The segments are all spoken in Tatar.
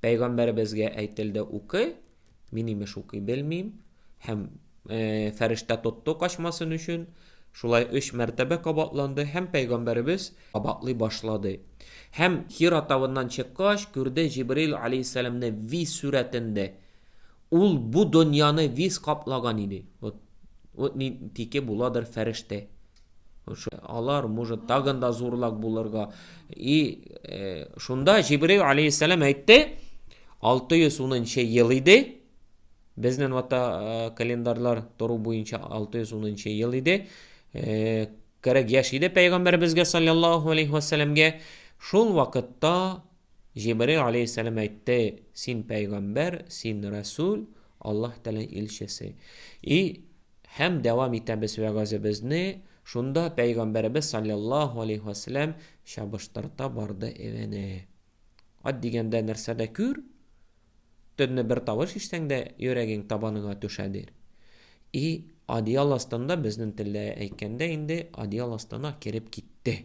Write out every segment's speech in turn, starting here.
Пәйгамбәребезгә әйтелде, Укы, мин, имеш, укый белмим. Һәм э, фәрештә тотты качмасын өчен. Шулай өч мәртәбә кабатланды һәм пәйгамбәребез кабатлый башлады. Һәм Хира тавыннан чыккач, күрде Җибрил алейһиссәламне виз сүрәтендә. Ул бу дөньяны виз каплаган иде. Вот, вот нинтике буладыр фәрештә. Алар может тагын да зурлак булырга. И э, шунда Җибрил алейхиссалам әйтте, 610 ел иде. Безнең вата э, календарьлар тору буенча 610 ел иде. Э, кирәк яшь иде пәйгамбәребезгә саллаллаху алейхи ва салламга. Шул вакытта Җибраил галәйһиссәлам әйтте, Син пәйгамбәр, син рәсүл, Аллаһ Тәгалә илчесе. И Һәм дәвам итәбез вәгазебезне, шунда пәйгамбәребез салләллаһу алейһи вә сәлләм чабыштырта барды эвене. Ат дигәндә нәрсә дә күр, төнне бер тавыш ишсәң дә йөрәгең табаныңа төшәдер. И одеял астында безнең телдә әйткәндә инде одеял астына кереп китте.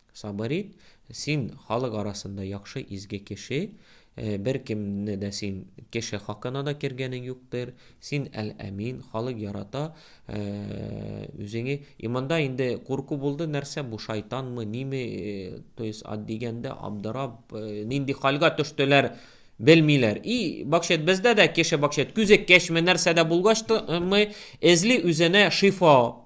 Сабыр ит, син халык арасында яхшы изге кеше, беркемне дә син кеше хакына да кергәнең юктыр, син әл-әмин, халык ярата, үзеңе, и монда инде курку булды, нәрсә бу шайтанмы, ниме, то есть дигәндә абдырап, нинди хәлгә төштеләр, белмиләр. И бакчет бездә дә кеше бакчет күзеккәчме нәрсәдә булгачмы эзли үзенә шифа.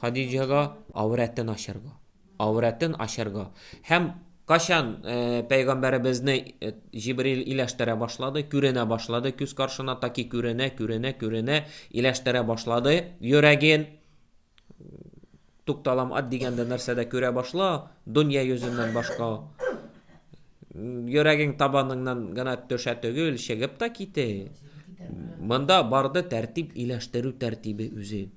Хадиҗәгә аврәтен ачарга. Аврәтен ачарга. Һәм качан пәйгамбәребезне Җибрил иләштерә башлады, күренә башлады күз каршына, таки күренә, күренә, күренә, иләштерә башлады йөрәген. Тукталам ат дигәндә нәрсә дә күрә башла, дөнья йөзеннән башка. Йөрәгең табаныңнан гына төшә түгел, чыгып та ките. Монда барды тәртип иләштерү тәртибе үзен.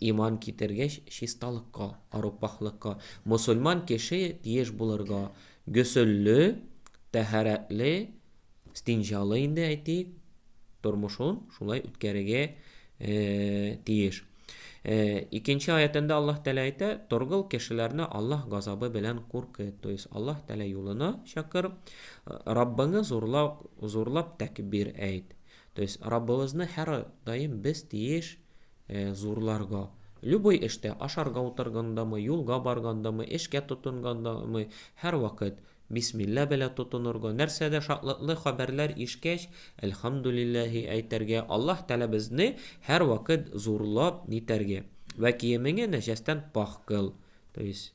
Иман китергеч чисталыкка, арупахлыкка. Мосульман кеше тиеш булырга гөсөлле, тәһарәтле, стинҗалы инде әйтик, тормышын шулай үткәрергә тиеш. Икенче аятында Аллаһ Тәгалә әйтә, торгыл кешеләрне Аллаһ газабы белән куркыт. То есть Аллаһ Тәгалә юлына чакыр, Раббыңны зурлап, зурлап тәкбир әйт. То есть Раббыбызны һәр даим без тиеш зурларга. Любой эштә, ашарга утыргандамы, юлга баргандамы, эшкә тотынгандамы, һәрвакыт Бисмилла белә тотынырга, нәрсәдә шатлыклы хәбәрләр ишкәч, Әлхәмдүлилләһи әйтәргә, Аллаһ Тәгалә безне һәрвакыт зурлап нитәргә. Вә киемеңе нәҗәстән пакь кыл. То есть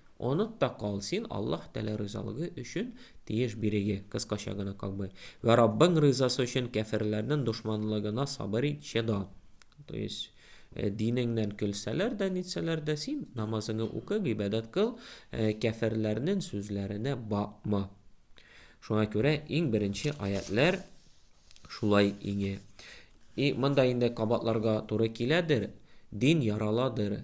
Оныт та кал, син Аллаһ Тәгалә ризалыгы өчен тиеш биреге, кыскача гына как бы, вә Раббың ризасы өчен кяферләрнен дошманлыгына сабыр ит, чыда. То есть, динеңнән көлсәләр дә, нитсәләр дә, син намазыңы укы, гыйбадәт кыл, кяферләрнен сүзләренә бакма. Шуңа күрә иң беренче аятьләр шулай иңә. И монда инде кабатларга туры киләдер, дин яраладыр,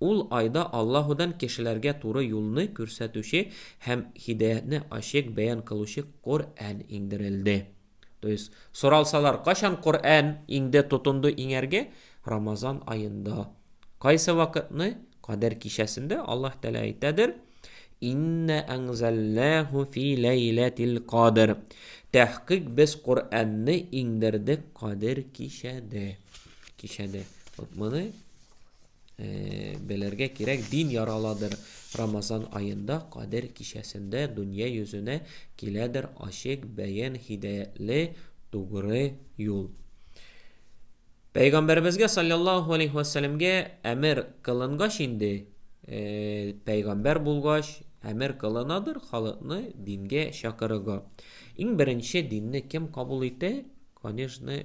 Ул айда Аллаһудан кешеләргә туры юлны күрсәтүче һәм һидаятьне ачык бәян кылучы Коръән иңдерелде. То есть, соралсалар, кайчан Коръән иңде, тотынды иңәргә? Рамазан аенда. Кайсы вакытны? Кадер кичәсендә Аллаһ Тәгалә әйтәдер, Инна әнзәлнәһу фи ләйләтил кадр. Тәхкыйк без Коръәнне иңдердек Кадер кичәдә. Кичәдә. Вот моны белергә кирәк, дин яраладыр. Рамазан аенда Кадер кичәсендә дөнья йөзенә киләдер ачык бәян һидаятле тугры юл. Пәйгамбәребезгә саллаллаху алейхи вәссәләмгә әмер кылынгач инде, э, пәйгамбәр булгач, әмер кылынадыр халыкны дингә чакырырга. Иң беренче динне кем кабул итә? Конечно,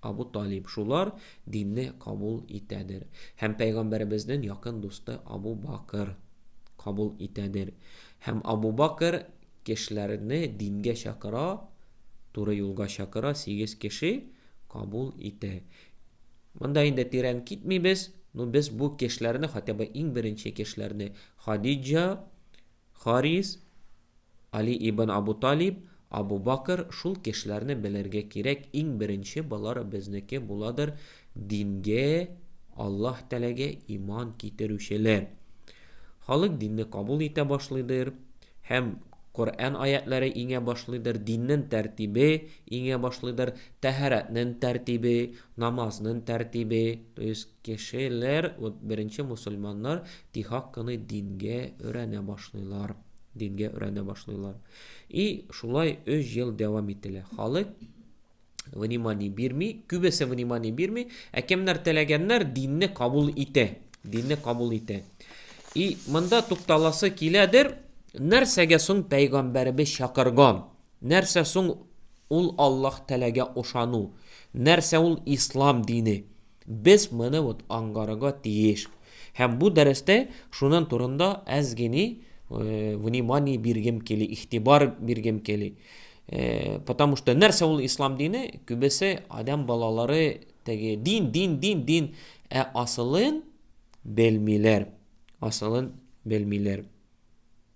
Абу Талиб, шулар динне кабул итәдер. Һәм Пәйгамбәребезнең якын дусты Абу Бакыр кабул итәдер. Һәм Абу Бакыр кешеләрне дингә чакыра, туры юлга чакыра, сигез кеше кабул итә. Монда инде тирән китмибез, ну без бу кешеләрне, хотя бы иң беренче кешеләрне, Хадиджа, Харис, Али ибн Абу Талиб, Абу Бакр, шул кешеләрне белергә кирәк, иң беренче болар безнеке буладыр, дингә, Аллаһ Тәгаләгә иман китерүчеләр. Халык динне кабул итә башлыйдыр һәм Коръән аятьләре иңә башлыйдыр, диннен тәртибе иңә башлыйдыр, тәһарәтнен тәртибе, намазнын тәртибе, то есть Кешеләр, вот беренче мусульманнар тихак кыны дингә өрәнә башлыйлар. Дингә өрәнә башлыйлар. И шулай 3 ел дәвам ителә. Халык внимание бирми, күбесе внимание бирми, ә кемнәр теләгәннәр динне кабул итә. Динне кабул итә. И монда тукталасы киләдер, нәрсәгә соң пәйгамбәребез чакырган? Нәрсә соң ул Аллаһ теләгә ошану? Нәрсә ул ислам дине? Без моны вот аңгарырга тиеш. Һәм бу дәрестә шунын турында әз гени внимание биргем кели, ихтибар биргем кели. Потому что нәрсә ул ислам дине? Күбесе адам балалары теге дин, дин, дин, дин, ә асылын белмиләр. Асылын белмиләр.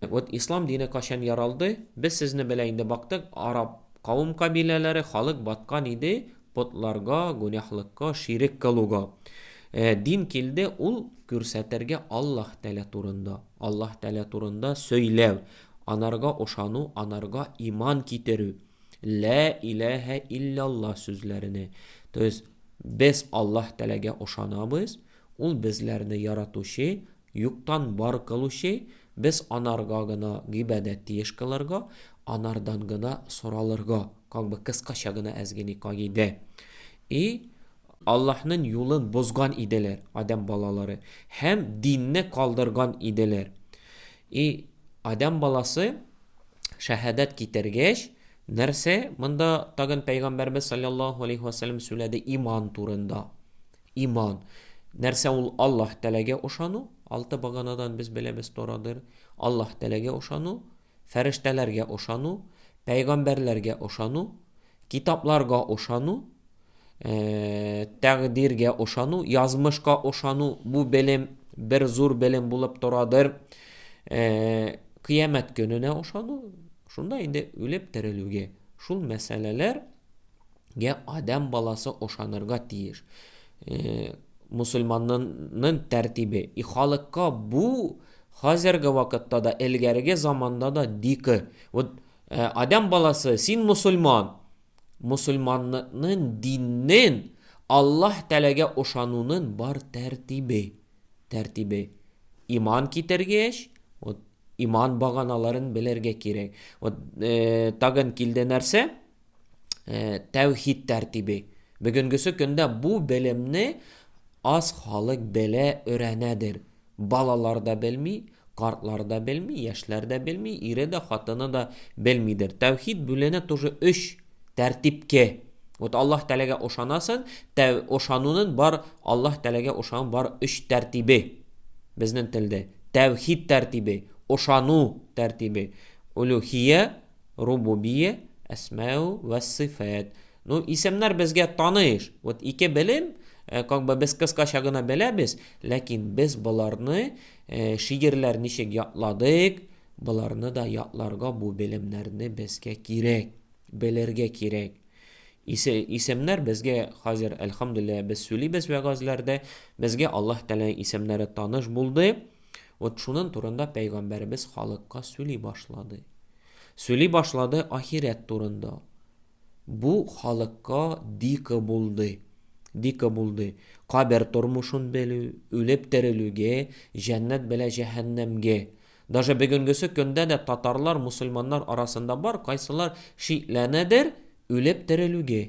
Вот ислам дине качан яралды, без сезне белә инде бактык, араб кавым кабиләләре, халык баткан иде потларга, гүнәһлыкка, ширек кылуга. Э, дин килде, ул күрсәтергә Аллаһ Тәлә турында, Аллаһ Тәлә турында сөйләү, анарга ошану, анарга иман китерү, лә иләһә илляллаһ сүзләренә. То есть без Аллаһ Тәләгә ошанабыз, ул безләрне яратучы, Юктан бар кылучи, без анарга гына гибәдәт тиеш кылырга, анардан гына соралырга, как бы кыскача гына әзгени кагыйдә. И. Аллаһнын юлын бозган иделәр, Адәм балалары, һәм динне калдырган иделәр. И. Адәм баласы, шәһәдәт китергәч, нәрсә монда тагын пәйгамбәрбез салләллаһу алейһи вә сәлләм сүләде иман турында. Иман. Нәрсә ул Аллаһ Тәаләгә ышану, алты баганадан без беләбез торадыр, Аллаһ Тәаләгә ышану, фәрештәләргә ышану, пәйгамбәрләргә ышану, китапларга ышану, тәкъдиргә ышану, язмышка ышану, бу белем бер зур белем булып торадыр, кыямәт көненә ышану, шунда инде үлеп терелүгә, шул мәсьәләләр гә адәм баласы ошанырга тиеш. Мусульманнын тәртибе. И халыкка бу хәзерге вакытта да, элгәреге заманда да дикы. Вот адәм баласы, син мусульман. Мусульманнын диннен, Аллаһ Тәләгә ошанунын бар тәртибе. Тәртибе. Иман китергеч, вот иман баганаларын белергә кирәк. Вот тагын килде нәрсә? тәүхид тәртибе. Бүгенгесе көндә бу белемне аз халык белә, өйрәнәдер. Балалар да белми, картлар да белми, яшьләр дә белми, ире дә, хатыны да белмидер. Тәүхид бүленә тоже өч тәртипкә. Вот Аллаһ Тәгаләгә ошанасын, тәү ошанунын бар Аллаһ Тәгаләгә ошан бар өч тәртибе. Безнең телдә тәүхид тәртибе, ошану тәртибе, улюхия Рубубия, әсмау вә сыйфәт. Ну, исемнәр безгә таныш. Вот ике белем, э, как бы без кыскача гына беләбез, ләкин без боларны э, шигерләр ничек ятладык, боларны да ятларга бу белемнәрне безгә кирәк, белергә кирәк. Исе, исемнәр безгә хәзер, әлхамдулилла, без сүлибез вәгазләрдә, безгә Аллаһ Тәгалә исемнәре таныш булды. Вот шунын турында пәйгамбәребез халыкка сөли башлады. Сөли башлады ахирәт турында. Бу халыкка дика булды. Дика булды. Кабер тормышын белү, үлеп терелүгә, җәннәт белә җәһәннәмгә. Даже бүгенгесе көндә дә татарлар, мусульманнар арасында бар, кайсылар шикләнәдер, Үлеп терелүгө.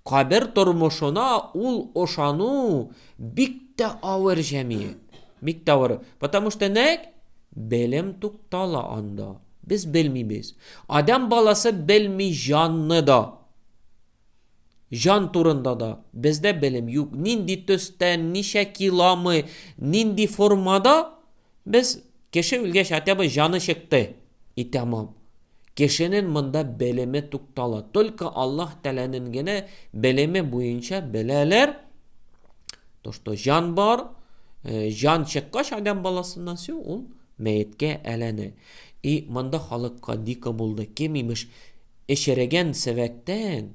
Кабер тормышына ул ошану бик тә авыр җәмият. Бик тә авыр. Потому что нәкъ белем туктала анда. Без белмибез. Адәм баласы белми җанны да. Җан турында да. Бездә белем юк. Нинди төстә, ничә киломы, нинди формада, Без кеше үлгәч хотя бы җаны чыкты, и тәмам. Кешенен монда белеме туктала. Только Аллаһ Тәләнен генә белеме буенча беләләр, то что җан бар, җан чыккач адәм баласыннан сю ул мәеткә әләне. И монда халыкка дико булды, кем имеш эчерегән севәктән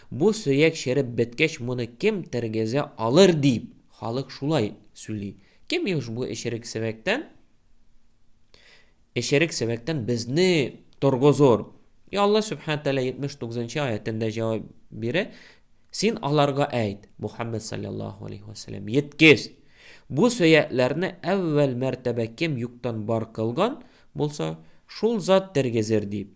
Бу сөяк череп беткәч моны кем тергезә алыр дип, халык шулай сүли. Кем имеш бу эчерек севәктән, эчерек севәктән безне торгозор. И Алла Сүбхәнә Тәгалә 79 нчы аятендә җавап бирә, Син аларга әйт, Мухаммед саллаллаху алейхи ва саллям, еткез, бу сөякләрне әүвәл мәртәбә кем юктан бар кылган булса, шул зат тергезер дип.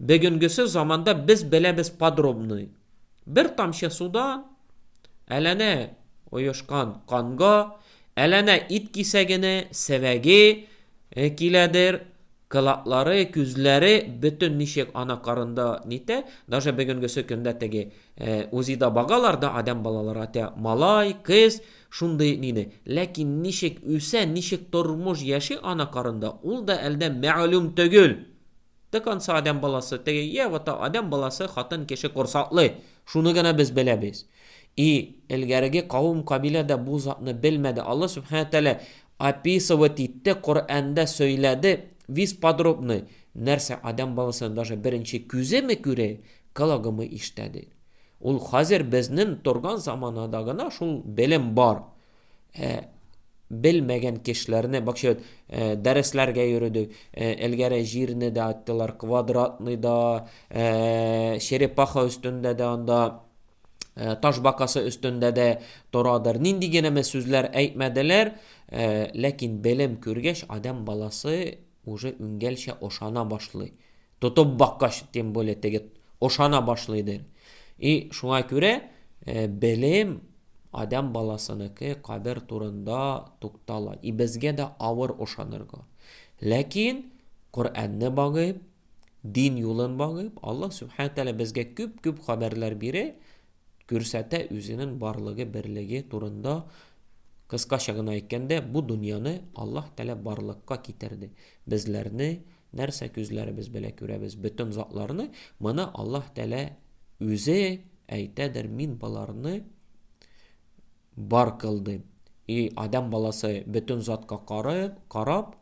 Бегенгесе заманда без беләбез подробный, бер тамчы судан, әләнә оешкан канга, әләнә ит кисәгене, севәге киләдер, кылаклары, күзләре бөтен ничек ана карында нитә, даже бегенгесе көндә теге УЗИда багалар да адәм балалары атә, малай, кыз, шундый нине, ләкин ничек үсә, ничек тормыш яши ана карында, ул да әлдә мәгълүм төгел! Тыканса адәм баласы, теге, йә, вот та адәм баласы хатын кеше корсаклый, шуны гына без беләбез. И, элгәреге кавым-кабилә дә бу затны белмәде, Алла Сүбхәнә Тәгалә описывать итте, Коръәндә сөйләде, вис подробный, нәрсә адәм баласының даже беренче күземе күрә, кологымы ишетәде. Ул хәзер безнен торган заманада гына шул белем бар. Ә белмәгән кешеләрне бакча э, дәресләргә йөрдек. Э, элгәре җирне дә аттылар, квадратный да, э, черепаха өстендә дә анда э, таш бакасы өстендә дә торадыр. Нинди генә сүзләр әйтмәделәр, э, ләкин белем күргәч, адәм баласы уже үнгәлчә ошана башлый. Тотып баккач, тем более теге ошана башлыйдыр. И шуңа күрә э, белем адәм баласыныкы кадер турында туктала. И безгә дә авыр ошанырга. Ләкин Коръәнне багып, дин юлын багып, Аллаһ Субхаһу Тәгалә безгә күп-күп хәбәрләр бирә, күрсәтә үзенең барлыгы, берлеге турында. Кыскача гына әйткәндә, бу дөньяны Аллаһ Тәгалә барлыкка китерде. Безләрне Нәрсә күзләребез белә күрәбез бөтен затларны, моны Аллаһ Тәлә үзе әйтәдер, мин боларны бар кылдым. И адам баласы бөтен затка карап, карап,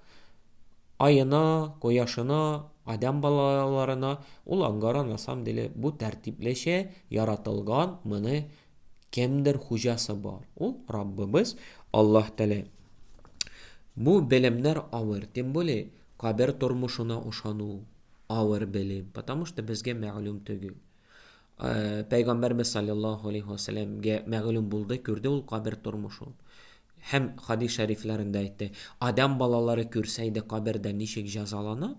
айына, кояшына, адам балаларына, ул ангара на самом деле бу тәртиплечә яратылган, моны кемдер хуҗасы бар. Ул Раббыбыз Аллаһ Тәлә. Бу белемнәр авыр, тем более Кабер тормышына ышану авыр белем, потому что безгә мәгълүм төгел. Пәйгамбәрбез салләллаһу алейһи ва сәлләмгә мәгълүм булды, күрде ул кабер тормышын. Һәм хадис шәрифләрендә әйтте, Адәм балалары күрсә иде кабердә ничек җәзалана,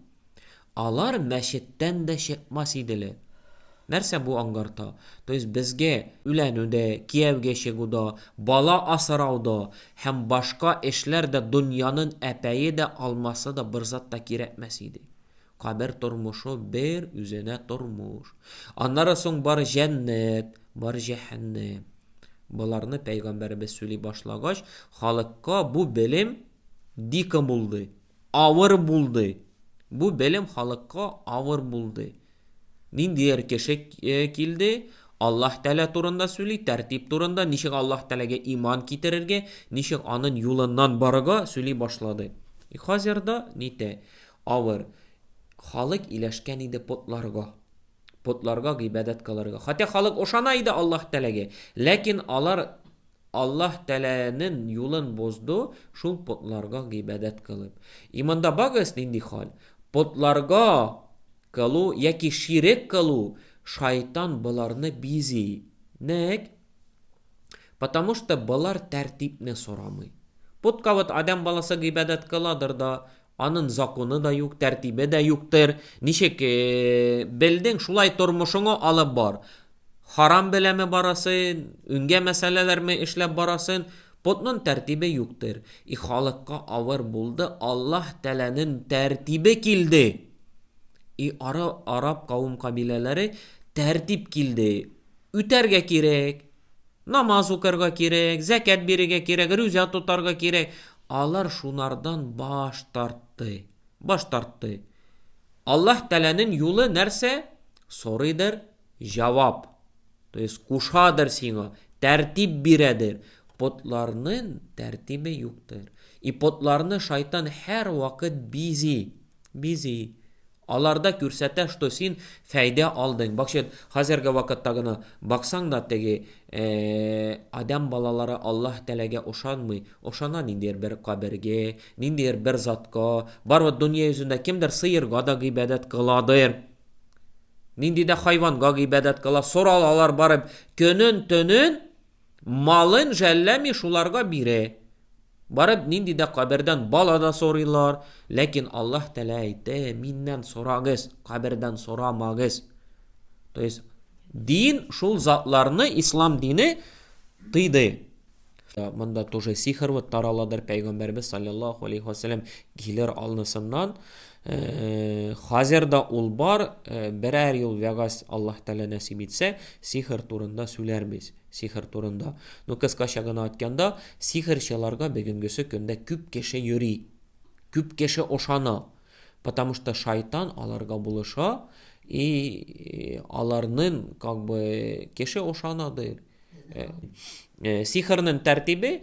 алар мәчеттән дә чыкмас иделәр. Нәрсә бу аңгарта? То есть безгә үләнү дә, кияүгә чыгу да, бала асырау да һәм башка эшләр дә дөньянын әпәе дә, алмасы да берзат та кирәкмәс иде. Кабер тормышы бер үзенә тормыш. Аннары соң бар җәннәт, бар җәһәннәм. Боларны пәйгамбәребез сөйли башлагач, халыкка бу белем дикы булды. Авыр булды. Бу белем халыкка авыр булды. Ниндидер кеше килде, Аллаһ Тәгалә турында сөйли, тәртип турында, ничек Аллаһ Тәгаләгә иман китерергә, ничек анын юлыннан барырга сөйли башлады. И хәзер дә нитә, авыр. Халык иләшкән иде потларга. Потларга гыйбадәт кылырга. Хотя халык ошана иде Аллаһ Тәгаләгә, ләкин алар Аллаһ Тәләэнен юлын бозды шул потларга гыйбадәт кылып. Иманда багыз, нинди халь? Потларга кылу яки ширек кылу, шайтан боларны бизи. Нек? Потому что болар тәртипне сорамый. Потка вот адәм баласы гыйбадәт кыладыр да, Анын законы да юк, тәртибе дә юктыр. Ничек белдең, шулай тормышыңы алып бар. Харам беләме барасын, үнгә мәсьәләләрме эшләп барасын, потнын тәртибе юктыр. И халыкка авыр булды, Аллаһ Тәләнен тәртибе килде. И ара араб кавым-кабиләләре тәртип килде. Үтәргә кирәк, намаз укырга кирәк, зәкәт бирергә кирәк, рүзә тотарга кирәк. Алар шунардан баш тартты. Баш тартты. Аллаһ Тәләнен юлы нәрсә? Сорыйдыр, җавап. То есть кушадыр сиңа, тәртип бирәдер. Потларнын тәртибе юктыр. И потларны шайтан һәр вакыт бизи. Бизи. Аларда күрсәтә что син фәйдә алдың бакчет хәзерге вакытта гына баксаң да теге адәм балалары Аллаһ тәләгә ошанмый ошана ниндидер бер кабергә ниндидер бер затка барыбер дөнья йөзендә кемдер сыерга да гыйбадәт кыладыр ниндидә хайванга гыйбадәт кыла соралалар барып көнен төнен Малын жәлләми шуларга бирә. Барып нинди дә кабердән бала да сорыйлар, ләкин Аллаһ Тәгалә әйтә, Миннән сорагыз, кабердән сорамагыз. То есть дин шул затларны ислам дине тыйды. Монда тоже сихр вот тараладыр, пәйгамбәрбез саллаллаху алейхи ва саллям килер алнысыннан Хәзер дә ул бар, берәр ел вәгазь Аллаһ Тәгалә нәсип итсә, сихер турында сүләрбез. Сихер турында. Ну кыскача гына айтканда, сихерчыларга бегенгесе көндә күп кеше йөри. Күп кеше ошана. Потому что шайтан аларга булыша и аларнын как бы кеше ошана дыр. Сихернын тәртибе,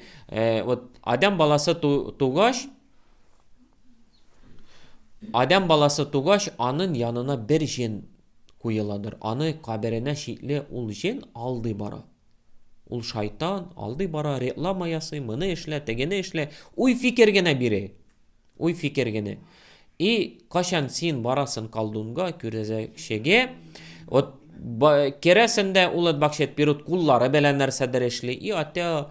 вот адәм баласы тугач, Адәм баласы тугач, анын янына бер җен куеладыр. Аны каберенә чикле ул җен алдый бара. Ул шайтан, алдый бара, реклама ясый, моны эшлә, тегене эшлә, уй-фикер генә бирә. Уй-фикер генә. И качан син барасын колдунга, күрәзәкчегә, вот керәсен дә ул бакчет перут куллары белән нәрсәдер эшли, и атя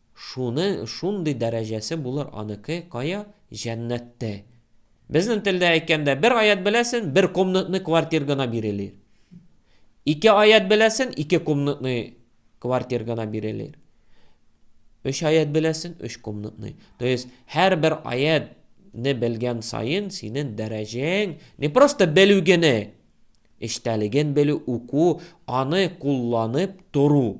Шуны шундый дәрәҗәсе булыр аныкы кая, җәннәттә. Безнең телдә әйткәндә, бер аять беләсен, бер комнатный квартир гына бирелер. Ике аять беләсен, ике комнатный квартир гына бирелер. Өч аят беләсен, өч комнатный. То есть, һәр бер аят не белгән сайын синен дәрәҗәң не просто белү генә, эчтәлеген белү, уку, аны кулланып тору.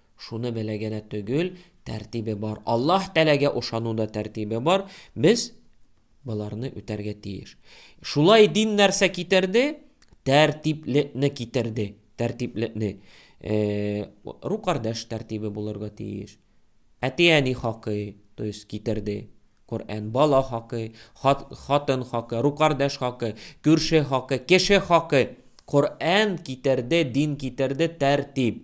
Шуны белә генә төгел, тәртибе бар. Аллаһ Тәләгә ошану да тәртибе бар. Без боларны үтәргә тиеш. Шулай дин нәрсә китерде? Тәртиплекне китерде. Тәртиплекне. Э, рукардаш тәртибе булырга тиеш. Әти-әни хакы, то есть китерде. Коръән бала хакы, хат, хатын хакы, рукардаш хакы, күрше хакы, кеше хакы. Коръән китерде, дин китерде, тәртип.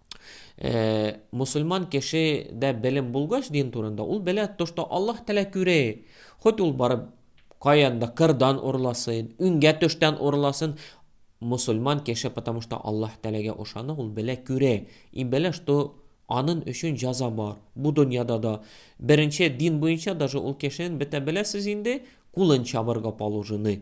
Э, мусульман кеше дә белем булгач дин турында, ул белә то, что Аллаһ Тәлә күрә. Хоть ул барып каянда кырдан урласын, үнгә төштән урласын, мусульман кеше, потому что Аллаһ Тәләгә ошана, ул белә күрә. И белә, что анын өчен җаза бар. Бу дөньяда да беренче дин буенча даже ул кешенең бетә беләсез инде, кулын чабырга положены.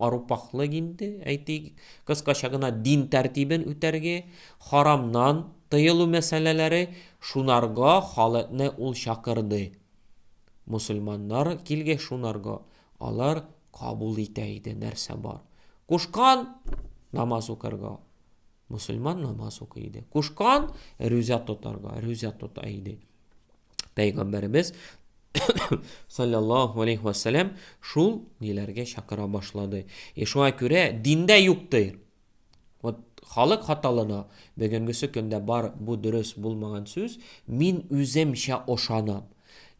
Арупахлык инде, әйтик, кыскача гына дин тәртибен үтәрге, харамнан тыелу мәсьәләләре шунарга халыкны ул чакырды. Мусульманнар килгәч шунарга алар кабул итә иде нәрсә бар. Кушкан намаз укырга, мусульман намаз укый иде. Кушкан рүзә тотарга, рүзә тота иде. Пәйгамбәребез саллаллаху алейхи вассалам шул ниләргә чакыра башлады. И шуңа күрә диндә юк ди. Вот халык хаталана, бүгенгесе көндә бар бу дөрес булмаган сүз, мин үземчә ошанам.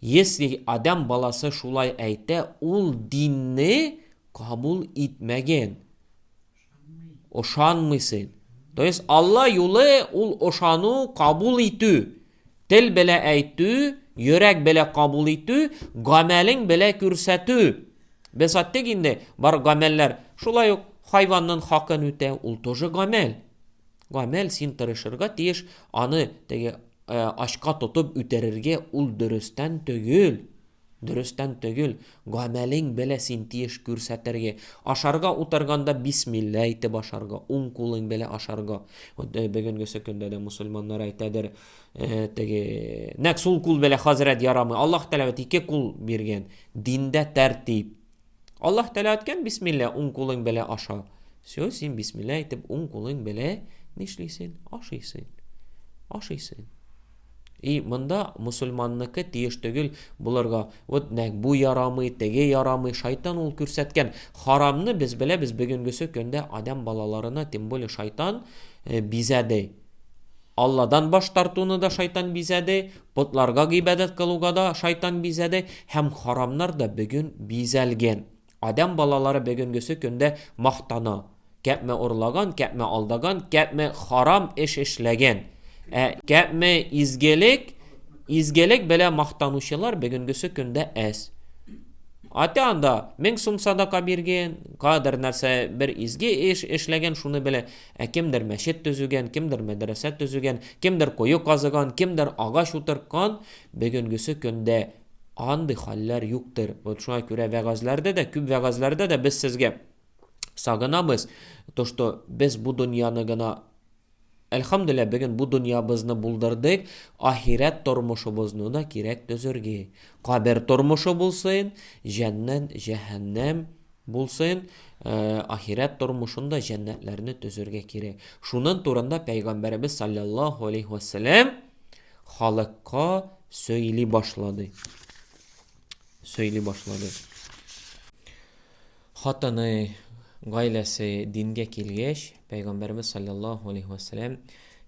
Если адам баласы шулай әйтә, ул динне кабул итмәген. Ышанмыйсың. То есть Алла юлы ул ышану, кабул итү. Тел белә әйтү, йөрәк белә кабул итү, гамәлең белә күрсәтү. Без әйттек инде, бар гамәлләр шулай ук хайванның хакын үтә, ул тоже гамәл. Гамәл син тырышырга тиеш, аны теге э, ачка тотып үтерергә ул дөрестән түгел. Дөрестән төгел, гамәлең белә син тиеш күрсәтерге, ашарга утырганда бисмилла әйтеп ашарга, уң кулың белә ашарга. Вот бөгенгесе көндә дә мусульманнар әйтәдер, теге, нәк сул кул белә хазрәт ярамый, Аллаһ Тәгалә бит ике кул биргән, диндә тәртип, Аллаһ Тәгалә әйткән бисмилла уң кулың белән аша. Все, син бисмилла әйтеп уң кулың белән нишлисең? Ашыйсың. Ашыйсың. И монда мусульманныкы тиеш түгел булырга. Вот нәк бу ярамый, теге ярамый. Шайтан ул күрсәткән харамны без беләбез бүгенгесе көндә адәм балаларына, тем более шайтан э, бизәде. Алладан баш тартуны да шайтан бизәде, потларга гыйбадәт кылуга да шайтан бизәде һәм харамнар да бөген бизәлгән. Адәм балалары бөгенгесе көндә мактана, кәпме урлаган, кәпме алдаган, кәпме харам эш эшләгән. Ә кәпме изгелек, изгелек белә мактанучылар бөгенгесе көндә әз. Ата анда мең сум садака биргән, кадәр нәрсә бер изге эш эшләгән, шуны белә. Ә кемдер мәчет төзегән, кемдер мәдрәсә төзегән, кемдер кое казыган, кемдер агач утырткан, бөгенгесе көндә андый хәлләр юктыр. Вот шуңа күрә вәгазьләрдә дә, күп вәгазьләрдә дә без сезгә сагынабыз, то что без бу дөньяны гына Әлхәмдүлилләһ, бүген бу дөньябызны булдырдык, ахирәт тормышыбызны да кирәк төзергә. Кабер тормышы булсын, җәннәт, җәһәннәм Булсын, ахирәт тормышын да җәннәтләрне төзергә кирәк. Шунын турында Пәйгамбәребез салләллаһу алейһи вә сәләм халыкка сөйли башлады. Сөйли башлады. Хатыны, гаиләсе дингә килгәч, Пәйгамбәребез салләллаһу алейһи вә сәләм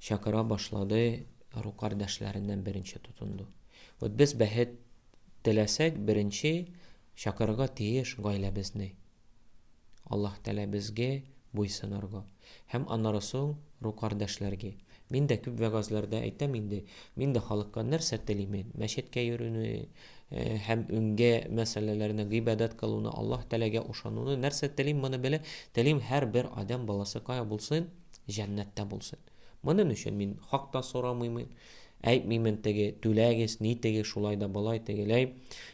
чакыра башлады, ру кардәшләреннән беренче тотынды. Вот без бәхет теләсәк, беренче Чакырырга тиеш гаиләбезне. Аллаһ Тәгалә безгә буйсынырга. Һәм аннары соң ру кардәшләргә. Мин дә күп вәгазьләрдә әйтәм инде, мин дә халыкка нәрсә телимен, мәчеткә йөрүне һәм үңгә мәсьәләләрне, гыйбадәт кылуны, Аллаһ Тәгаләгә ошануны, нәрсә телим, моны белә, телим һәрбер адәм баласы кая булсын, җәннәттә булсын. Монын өчен мин хак та сорамыймын, әйтмимен теге түләгез, нитегез, шулай да болай, тегеләй.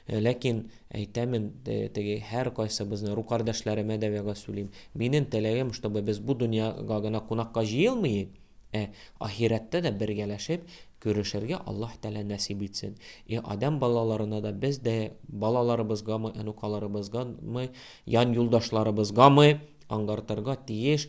Ләкин әйтәмен, теге һәркайсыбызны, ру кардәшләремә дә вәгазь сүлим. Минен теләгем, чтобы без бу дөньяга гына кунакка җыелмыйк, ә ахирәттә дә бергәләшеп күрешергә Аллаһ Тәгалә нәсыйп итсен. И адәм балаларына да без дә балаларыбызгамы, онукаларыбызгамы, ян юлдашларыбызгамы аңгартырга тиеш,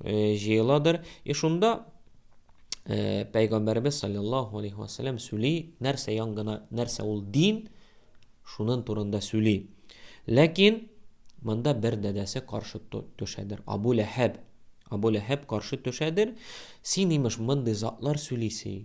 э, җыеладыр. И шунда э, Пәйгамбәребез саллаллаху алейхи вассалам сүли, нәрсә яңгына, нәрсә ул дин, шунын турында сүли. Ләкин монда бер дәдәсе каршы төшәдер. Абу Ләһәб. Абу Ләһәб каршы төшәдер. Син имеш мондый затлар сүлисе.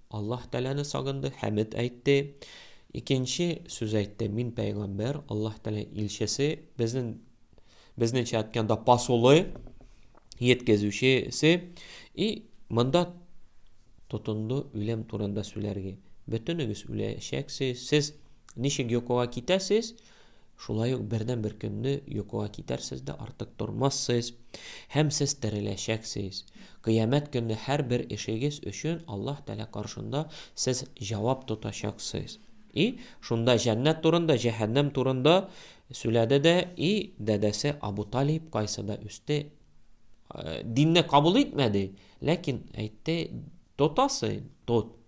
Аллаһ Тәгаләне сагынды, хәмед әйтте. Икенче сүз әйтте, мин пәйгамбәр, Аллаһ Тәгалә илчесе, безнең безнеңчә әйткәндә пасулы, еткезүчесе. И монда тотынды үлем турында сүләргә. Бөтенегез үләчәксез. Сез ничек йокыга китәсез? Шулай ук бердәнбер көнне йокыга китәрсез дә артык тормассыз, һәм сез тереләчәксез. Кыямәт көнне һәрбер эшегез өчен Аллаһ Тәгалә каршында сез җавап тотачаксыз. И шунда җәннәт турында, җәһәннәм турында сүләде дә, и дәдәсе Абу Талиб кайсыда үсте, динне кабул итмәде, ләкин әйтте, тотасы, тот,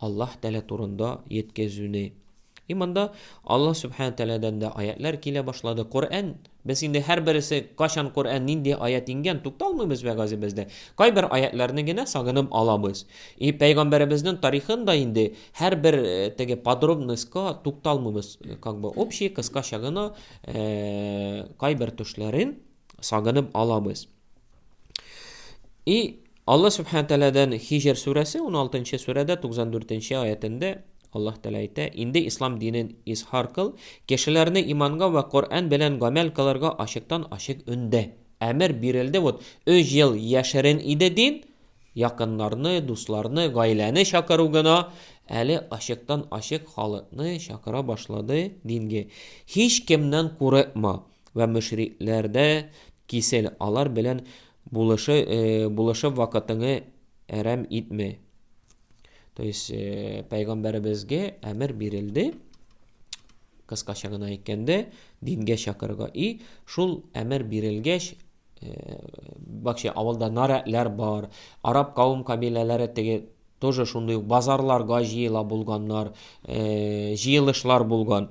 Аллаһ Тәгалә турында йеткезүне. И монда Аллаһ Сүбхәнә Тәгаләдән дә аятьләр килә башлады. Коръән, без инде һәрбересе кайчан Коръән нинди аять иңгән, тукталмыйбыз бе газебез дә. Кайбер аятьләрне генә сагынып алабыз. И пәйгамбәребезнең тарихын да инде һәрбер теге подробностька тукталмыйбыз, как бы общий, кыскача гына кайбер төшләрен сагынып алабыз. И Алла Субхану Тәләдән Хижр сүрәсе 16-нчы сүрәдә 94-нче аятендә Аллаһ Тәлә әйтә, инде ислам динен изһар кыл, кешеләрне иманга вә Коръән белән гамәл кылырга ачыктан ачык өндә. Әмер бирелде, вот 3 ел яшерен иде дин, якыннарны, дусларны, гаиләне чакыру гына, әле ачыктан ачык халыкны чакыра башлады динге. Һич кемнән курыкма. Вә мөшрикләр дә кисел, алар белән булышы, булышып вакытыңы әрәм итмә. То есть, пәйгамбәребезгә әмер бирелде, кыскача гына әйткәндә, дингә чакырырга. И шул әмер бирелгәч, бакча авылда нарәтләр бар, араб кавым кабиләләре теге тоже шундый ук базарларга җыела булганнар, җыелышлар булган.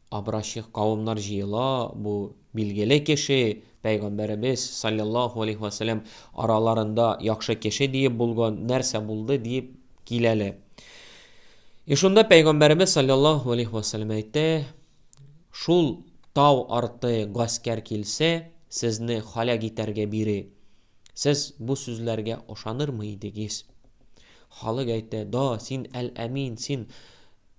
Образчик кавымнар җыела, бу билгеле кеше, Пәйгамбәребез, салләллаһу алейһи вә сәлләм, араларында яхшы кеше диеп булган, нәрсә булды диеп киләләр. И шунда Пәйгамбәребез, салләллаһу алейһи вә сәлләм, әйтә, шул тау арты гаскәр килсә, сезне халәк итәргә бире. Сез бу сүзләргә ошанырмы идегез? Халык әйтә, да, син әл-әмин, син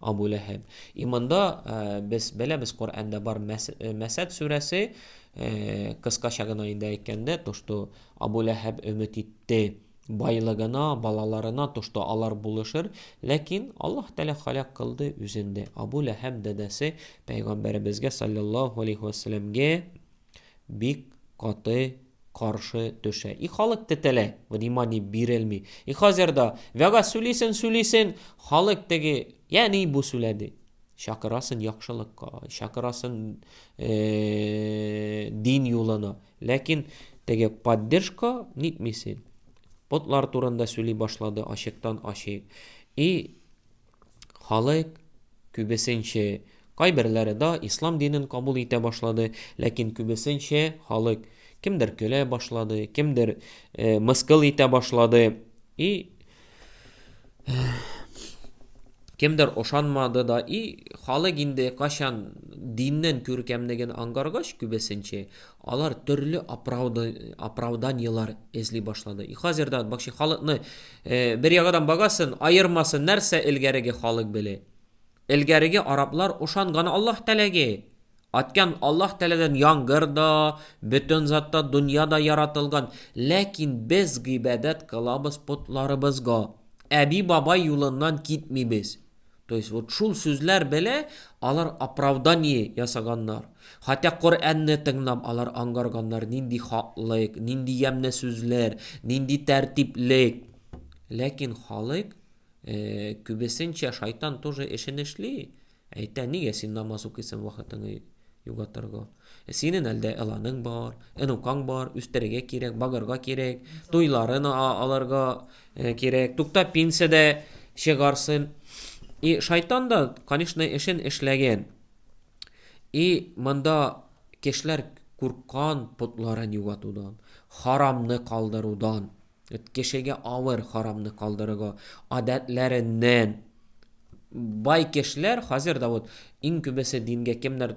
Абу Ләһәб. Иманда без беләбез, Коръәндә бар Мәсәд сүрәсе, кыскача гына инде әйткәндә, то что Абу Ләһәб өмет итте байлыгына, балаларына, то что алар булышыр, ләкин Аллаһ Тәгалә халәк кылды үзен дә. Абу Ләһәб дәдәсе пәйгамбәребезгә саллаллаһу алейхи вәсәләмгә бик каты каршы төшә. И халык тетелә, внимание бирелми. И хәзер дә вәгазь сүлисен сүлисен, халык теге, я ни бу сүләде. Чакырасын яхшылыкка, чакырасын э, дин юлына. Ләкин теге поддержка нитмисен. Потлар турында сүли башлады, ачыктан ачык. И Халык, күбесенче, кайберләре да ислам динен кабул итә башлады, ләкин күбесенче халык, кемдер көлә башлады, кемдер э, мыскыл итә башлады, и кемдер ошанмады да, и халык инде качан диннен күркәмлеген ангаргач күбесенче, алар төрле оправданиелар эзли башлады. И хәзер дә бакчы халыкны Бер ягадан багасын, аермасы нәрсә элгәреге халык беле? Элгәреге араплар ошанган Аллаһ Тәләге. Аткан Аллаһ Тәләдән яңгыр да, бөтен зат та, дөнья да яратылган. Ләкин без гыйбадәт кылабыз потларыбызга. Әби-бабай юлыннан китмибез. То есть вот шул сүзләр белә алар оправдание ясаганнар. Хәтта Коръәнне тыңлап алар ангарганнар, нинди хаклык, нинди ямьле сүзләр, нинди тәртиплек. Ләкин халык э, күбесенчә шайтан тоже эшен эшли. Әйтә, нигә син намаз укыйсың вакытыңны югатырга? Синен әлдә эланың бар, энукаң бар, үстерергә кирәк, багырга кирәк, туйларын алырга кирәк. Тукта пенсия дә чыгарсын. И шайтан да, конечно, эшен эшләгән. И монда кешеләр курккан потларын юатудан, харамны калдырудан. Кешегә авыр харамны калдырырга, адәтләреннән. Бай кешеләр хәзер дә вот иң күбесе дингә кемнәр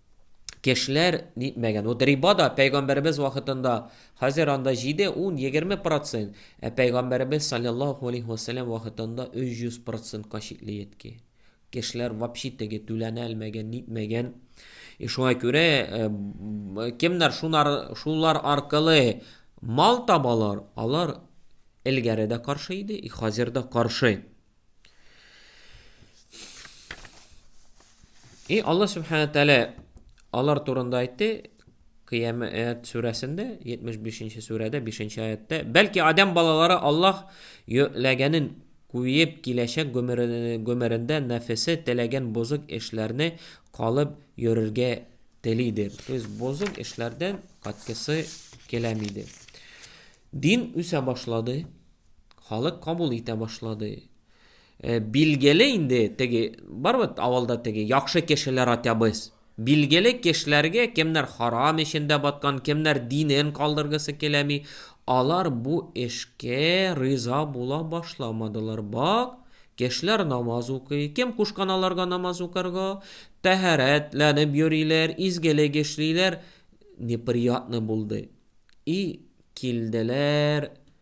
кешеләр нитмәгән. Вот риба да пәйгамбәребез вакытында хәзер анда 7, 10, 20 процент, ә пәйгамбәребез саллаллаху алейхи вассалам вакытында 300 процентка чикле йетки. Кешеләр вообще теге түләнә алмаган, нитмәгән. И шуңа күрә э, кемнәр шунар шулар аркылы мал табалар, алар элгәре дә каршы иде, и хәзер дә каршы. И Алла Субхана Тәлә алар турында айтты, Киямет сүрәсендә, 75-нче сүрәдә, 5-нче аятта, бәлки адам балалары Аллах йөкләгәнен куеп киләчәк гомерендә нәфесе теләгән бозык эшләрне калып йөрергә телидер. То есть бозык эшләрдән каткысы киләм иде. Дин үсә башлады. Халык кабул итә башлады. Э, билгеле инде теге бар бит авылда теге яхшы кешеләр атябыз. Билгеле кешеләргә кемнәр харам эчендә баткан, кемнәр динен калдыргысы киләми, алар бу эшкә риза була башламадылар. Бак, кешеләр намаз укый, кем кушкан аларга намаз укырга, тәһарәтләнеп йөриләр, изгелек эшлиләр. Неприятно булды. И килделәр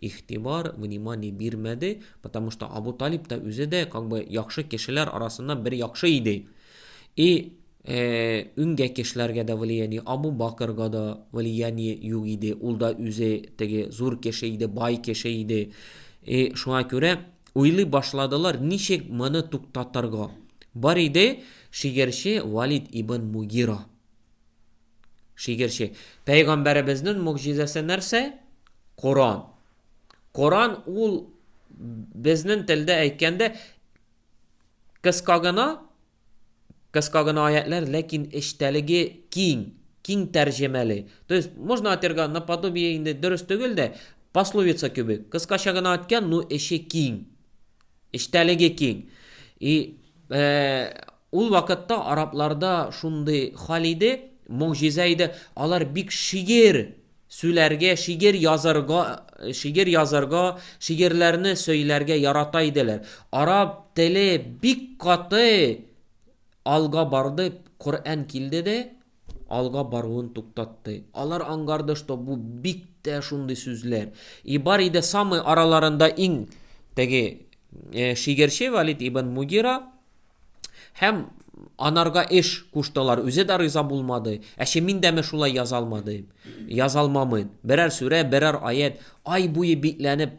игътибар, внимание бирмәде, потому что Абу Талиб та үзе дә как бы яхшы кешеләр арасыннан бер яхшы иде. И үнгә кешеләргә дә влияние, Абу Бакырга да влияние юк иде, ул да үзе теге зур кеше иде, бай кеше иде. И шуңа күрә уйлый башладылар, ничек моны туктатырга. Бар иде шигерче Валид ибн Мугира. Шигырьче. Пәйгамбәребезнең могҗизасы нәрсә? Коран. Коран ул безнең телдә әйткәндә кыска гына кыска гына аятлар, ләкин эчтәлеге киң, киң тәрҗемәле. То есть можно атерга наподобие инде дөрес түгел дә, пословица кебек. Кыскача гына әйткән, но эче киң. Эчтәлеге киң. И э, Ул вакытта арабларда шундый хәл иде, могҗиза иде, алар бик шигерь сүләргә, шигерь язарга, шигерь язарга, шигерьләрне сөйләргә ярата иделәр. Араб теле бик каты алга барды, Коръән килде дә, алга баруын туктатты. Алар аңгарды, что бу бик тә шундый сүзләр. И бар иде самый араларында иң теге шигерче Валид ибн Мугира һәм анарга эш куштылар. Үзе дә риза булмады. Ә чи мин дәме шулай язалмадым. Язалмамын. Берәр сүрә, берәр аять ай буе бикләнеп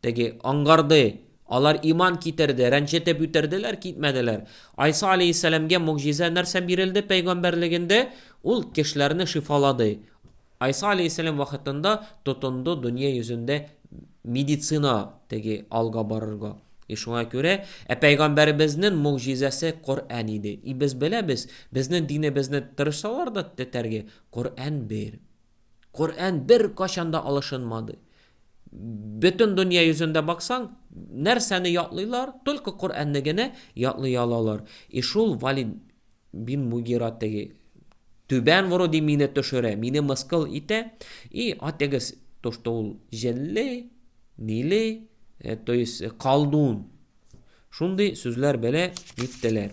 Теге, аңгарды, алар иман китерде, рәнҗетеп үтерделәр, китмәделәр. Айса аләйһиссәламгә могҗиза нәрсә бирелде пәйгамбәрлегендә? Ул кешеләрне шифалады. Айса аләйһиссәлам вакытында тотынды дөнья йөзендә медицина теге алга барырга. И шуңа күрә, ә пәйгамбәребезнең могҗизасы Коръән иде. И без беләбез, безнең динебезне тырышсалар да тетәргә, Коръән бер. Коръән беркайчан да алышынмады. Бөтен дөнья йөзендә баксаң, нәрсәне ятлыйлар, только Коръәнне генә ятлый алалар. И шул Валид бин Мугира теге түбән вроде мине төшерә, мине мыскыл итә, и атегез то, что ул җенле, ниле, э, то есть колдун. Шундый сүзләр белә диттеләр.